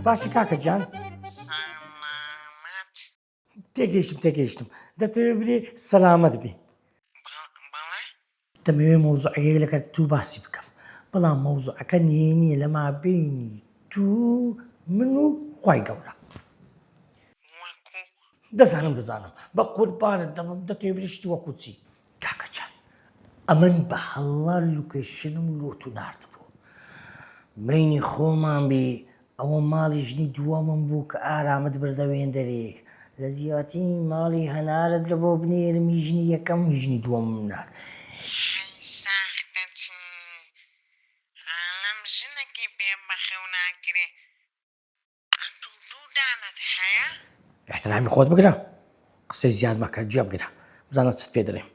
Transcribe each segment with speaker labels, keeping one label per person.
Speaker 1: باشە کاکە جان سەلامەت
Speaker 2: تێگەیشتم
Speaker 1: تێگەیشتم دەتەوێ بری سەلامەت بی بە- بەڵێ
Speaker 2: دەمەوێ
Speaker 1: مۆزوعەیەک لەگەر تو باسی بکەم بەڵام مۆزوعەکە نێ نییە لە مابینی تو من و خی گەورە وەکو
Speaker 2: دەزانم
Speaker 1: دەزانم بە قوربانت دەبم دەتێبری شتی وەکو چی کاکە جان ئەمن بە هەڵە لوکەیشنم لۆتو ناردبوو مەینی خۆمان بی ئەوە ماڵی ژنی دووەمم بوو کە ئارامت بردە وێندەرێ لە زیاتی ماڵی هەنارت لە بۆ بنێرمی ژنی یەکەم ژنی دووەم نارد
Speaker 2: ئیحترامی خۆت
Speaker 1: بگرە قسەی زیاد مەکە جێ بگرە بزانە چت پێ دەڵێم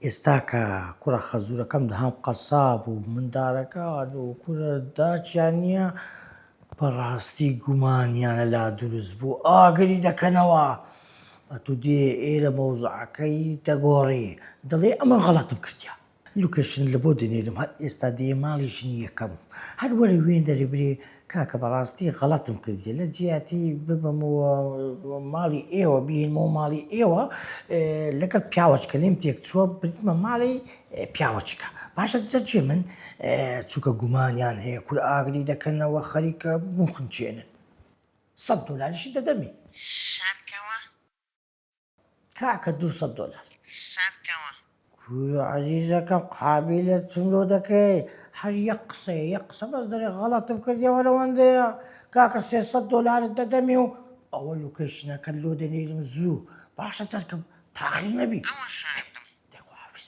Speaker 1: ئێستا کە کوڕە خەزورەکەم دەهام قەساب و مندارەکە و کورە داچیان نییە بەڕاستی گومانیانە لا دروست بوو ئاگری دەکەنەوە ئەتو دێ ئێرە مەوزعەکەی دەگۆڕی دەڵێ ئەمە غەڵەتم کردیا لوکەشن لە بۆ دەنێرم هەر ئێستا دێیە ماڵی ژنی یەکەم هەر وەرە وێن دەرێ برێ کاکە بەڕاستی غەڵەتم کردیە لە جیاتی ببمەوە ماڵی ئێوە بینمەوە ماڵی ئێوە لەگەڵ پیاوەچکە لێم تێک چووە بردمە ماڵی پیاوەچکە باشە جەجێ من چووکە گومانیان هەیە کور ئاگری دەکەنەوە خەریکە بخنچێنن سەد دۆلاریشی دەدەمی شارکەوە کاکە دوو سەد دۆلار سەرکەوە.
Speaker 2: کورە
Speaker 1: عەزیزەکەم قابیلە چم لۆ دەکەی هەر یەک قسەیە یەک قسە بەس دەرێ غەڵەتم کرد یەوە لەوەندەیە کاکە سێ سەد دۆلارت دەدەمێ و ئەوە لوکەیشنەکەت لۆ دەنێرم زوو باشە تەرکم تاخیر نەبی ئەوە هاتم.
Speaker 2: دەی خواحافیز.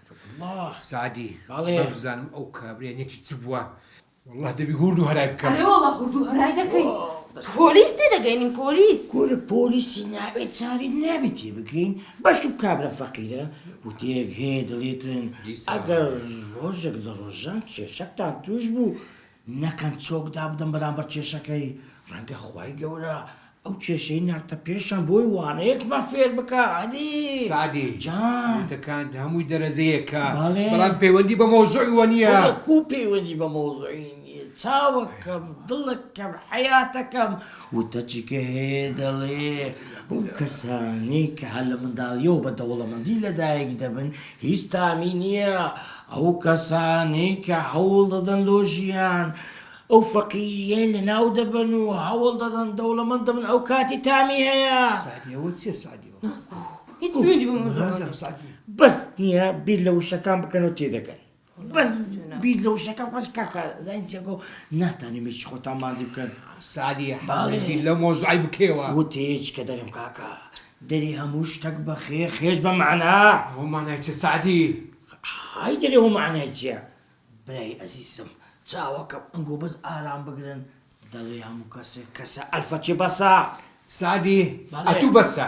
Speaker 3: سەعدی، بەڵێ بزانم ئەو
Speaker 1: کابرای
Speaker 3: نەکی چ بووە، وەڵڵا دەبی هووردو هەرای بکەم. ئەرێ وەڵڵا هووردو هەرای
Speaker 4: دەکەین. بەس پۆلیس تێدەگەین پۆلیس. کورە پۆلیسی
Speaker 1: نابێ چاری نابێ تێبگەین، بەشکم کابرا فەقیرە وتەیەک هەیە دەڵێتن ئەگەر ڕۆژێک لە ڕۆژان کێشەکتان تووش بوو نەکەن چۆک دابدەن بەرامبەر کێشەکەی، ڕەنگە خوای گەورە ئەو کێشەی ناردتە پێشیان بۆی وانەیەکمان فێر بکا هەدی سەعدی
Speaker 3: جان. وتەکانت
Speaker 1: هەمووی
Speaker 3: دەرەجەیەکە بەڵێ. بەڵام پەیوەندی
Speaker 1: بە
Speaker 3: مەوزوعی وە نییە. وەڵا کو پەیوەندی بە
Speaker 1: مەوزوعی نییە چاوەکەم دڵەکەم حەیاتەکەم وتە چیکە هەیە دەڵێ ئەو کەسانەی کە هەر لە منداڵییەوە بە دەوڵەمەندی لەدایک دەبن هیچ تامی نیە ئەو کەسانەی کە هەوڵ دەدەن لۆ ژیان ئەو فەقیریەی لەناو دەبەن و هەوڵ دەدەن دەوڵەمەند دەبن ئەو کاتی تامی هەیە سعدی ئەوە چیە
Speaker 3: سعدی ئەوە نازانم هیچ شوێنی
Speaker 4: بۆ نازانم سعدی بەس
Speaker 3: نیە
Speaker 1: بیر لە وشەکان بکەنەوە تێدەگەن. بەس بیر لە وشەکە بەس کاکە زانین چیەکە و ناتانیم هیچ خۆتان ماندی بکەن سادی باڵێ
Speaker 3: بیر لە
Speaker 1: مۆزوعی
Speaker 3: بکەوە وتێج کە دەرم
Speaker 1: کاکە دەری هەموو شتەک بە خێ خێش بە مەعنا هۆمانای چ
Speaker 3: سادی های
Speaker 1: دەرێ و مەعنای چیە برای ئەزیزم چاوەکەم ئەنگۆ بەس ئارام بگرن دەڵێ هەموو کەسێک کەسە ئەلفەچێ بەسە سادی
Speaker 3: ئەتوو بەسە